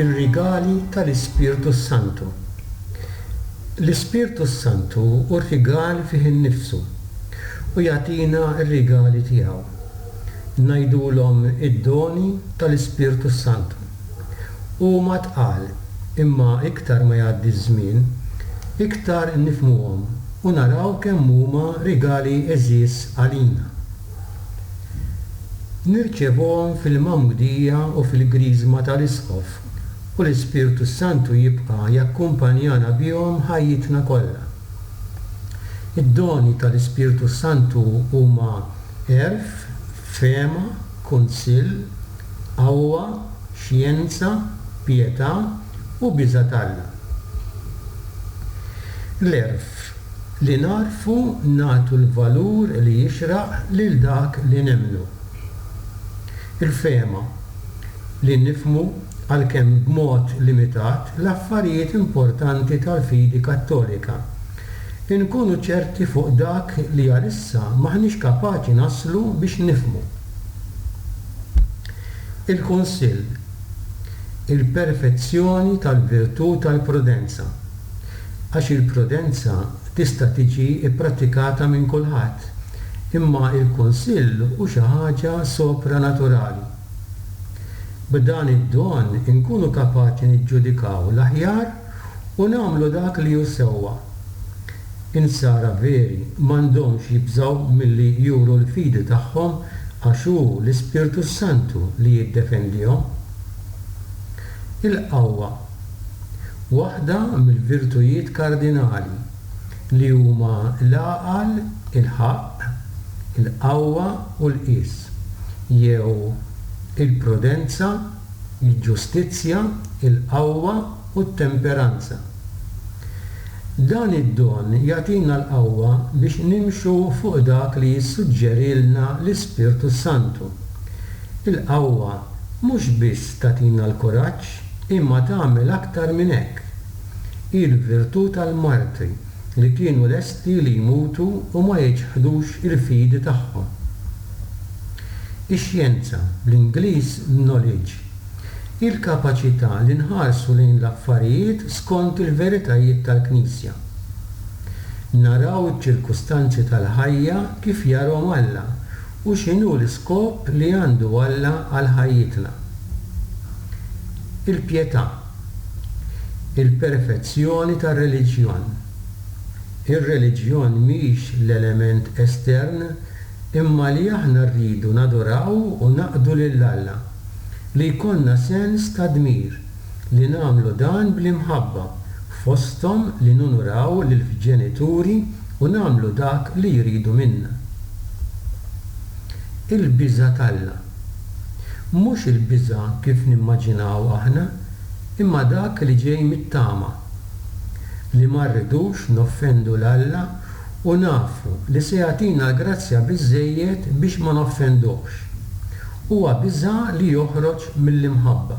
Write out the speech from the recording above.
Ir-rigali tal-Ispirtu s-Santu. L-Ispirtu s-Santu hu rigal fih innifsu u jagħtina r-rigali tiegħu. Ngħidulhom id-doni tal-Ispirtu s-Santu. Huma tqal, imma iktar ma jgħaddi ż-żmien, iktar nifhmuhom u naraw kemm huma rigali għeżież għalina. Nirċevuhom fil-Magħmudija u fil-Griżma tal-Isqof, u l-Ispirtu s-Santu jibqa' jakkumpanjana bihom ħajjitna kollha. Id-doni tal-Ispirtu s-Santu huma għerf, fehma, kunsill, qawwa, xjenza, pietà u biża' t'Alla. L-għerf li nagħrfu nagħtu l-valur li jixraq lil dak li nemmnu. Il-fehma li nifhmu, għalkemm b'mod limitat, l-affarijiet importanti tal-fidi Kattolika. Inkunu ċerti fuq dak li għalissa m'aħniex kapaċi naslu biex nifhmu. Il-Kunsill, Il-perfezzjoni tal-virtù tal-prudenza, għax il-prudenza tista' tiġi pprattikata minn kulħadd, imma l-Kunsill hu xi ħaġa sopranaturali. B'dan id-don inkunu kapaċi niġġudikaw l-aħjar u nagħmlu dak li hu sewwa. In-nsara veri m'għandhomx jibżgħu milli juru l-fidi tagħhom għax hu l-Ispirtu s-Santu li jiddefendihom. Il-qawwa. Waħda mill-virtujiet kardinali, li huma l-għaqal, il-ħaqq, il-qawwa u l-qies, jew il-prudenza, il-ġustizzja, il-qawwa u t-temperanza. Dan id-don jagħtina l-qawwa biex nimxu fuq dak li jissuġġerilna l-Ispirtu s-Santu. Il-qawwa mhux biss tagħtina l-kuraġġ imma tagħmel aktar minn hekk. Hi l-virtù tal-martri li kienu lesti li jmutu u ma jiċħdux il-fidi tagħhom. Ix-xjenza, bl-Ingliż, knowledge, hi l-kapaċità li nħarsu lejn l-affarijiet skont il-veritajiet tal-Knisja. Naraw iċ-ċirkustanzi tal-ħajja kif jarahom Alla u x'inhu l-iskop li għandu Alla għal ħajjitna. Il-pjetà, il-perfezzjoni tar-reliġjon, Ir-reliġjon mhix l-element estern imma li aħna rridu naduraw u naqdu lil Alla, li jkollna sens ta' dmir li nagħmlu dan bl-imħabba, fosthom li nunuraw lill-ġenituri u nagħmlu dak li jridu minna. Il-biża' t'Alla. Mhux il-biża' kif nimmaġinawha aħna, imma dak li ġej mit-tama. li ma rridux noffendu 'l Alla u nafu li se jagħtina l-grazzja biżżejjed biex ma noffenduhx. Huwa biża' li joħroġ mill-imħabba.